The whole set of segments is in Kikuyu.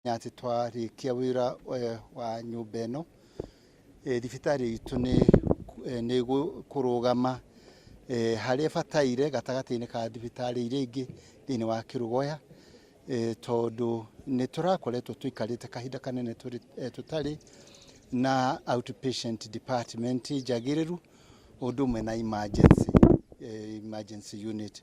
atĩ twarĩkia wĩra eh, wa nyũmba ĩno eh, thibitarĩ itũ nĩ eh, nĩ gũ- kũrũgama eh, harĩa ĩbataire gatagatĩ-inĩ ka thibitarĩ iria ingĩ thĩinĩ wa kĩrũgoya eh, tondũ nĩ tũrakoretwo tũikarĩte kahinda kanene tũrĩ- eh, tũtarĩ na outpatient department njagĩrĩru ũndũ ũmwe na emergency, eh, emergency unit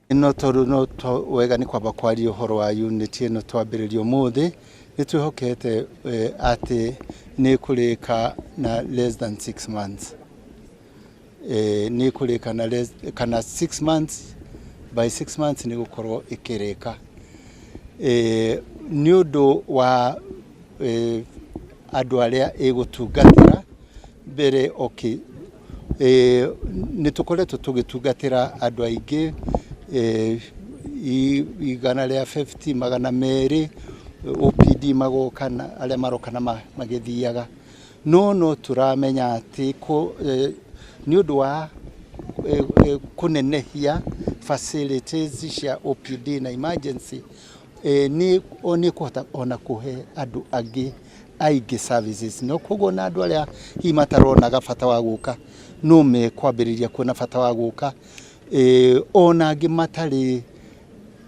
No tondũ no wega nĩ kwamba kwaria ũhoro wa unit ĩno twambĩrĩria ũmũthĩ, nĩ twĩhokete atĩ nĩ ĩkũrĩka na less than 6 months. Nĩ ĩkũrĩka na less kana 6 months, by 6 months nĩ gũkorwo ĩkĩrĩka. Nĩ ũndũ wa andũ arĩa ĩgũtungatĩra. Mbere okay. Eh, nĩ tũkoretwo tũgĩtungatĩra andũ aingĩ eh, i- igana rĩa 50 magana merĩ OPD magoka na arĩa maroka na ma- magĩthiaga no no tũramenya atĩ kũ- eh, nĩ ũndũ wa eh, eh, kũnenehia facilities cia OPD na emergency Eh, ni ni kuhota ona kuhe andu angi aingi services no koguo na andu aria hihi mataronaga bata wa guka no me kwambiriria kuona bata wa guka eh, ona angi matari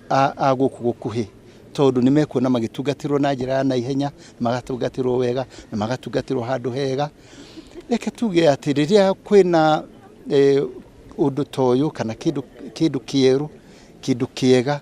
a, a guku gukuhi tondu ni mekuona magitungatirwo na njira ya naihenya magatungatirwo wega na magatungatirwo handu hega reke tuge ati riria kwina eh, undu toyu kana kindu kindu kieru kindu kiega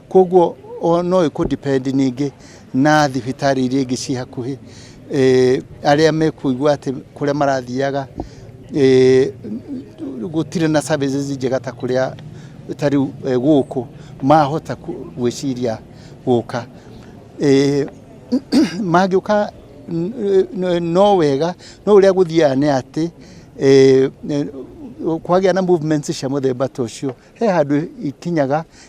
Kwoguo no ĩkũ depend ningĩ na thibitarĩ iria ingĩ ciĩ hakuhĩ arĩa mekũigua atĩ kũrĩa marathiaga gũtirĩ na services njega ta kũrĩa ta rĩu gũkũ mahota gwĩciria gũka. Mangĩũka no wega no ũrĩa gũthiaga nĩ atĩ kwagĩa na movements cia mũthemba ta ũcio he handũ ikinyaga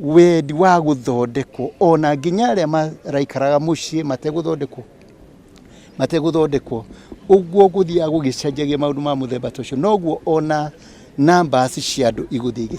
wendi wa gũthondekwo ona nginya arĩa maraikaraga mũciĩ mategũthondekwo mategũthondekwo ũguo gũthiaga gũgĩcenjagia maũndũ ma mũthemba ta ũcio noguo ona numbers cia andũ igũthiĩ igĩcenjagia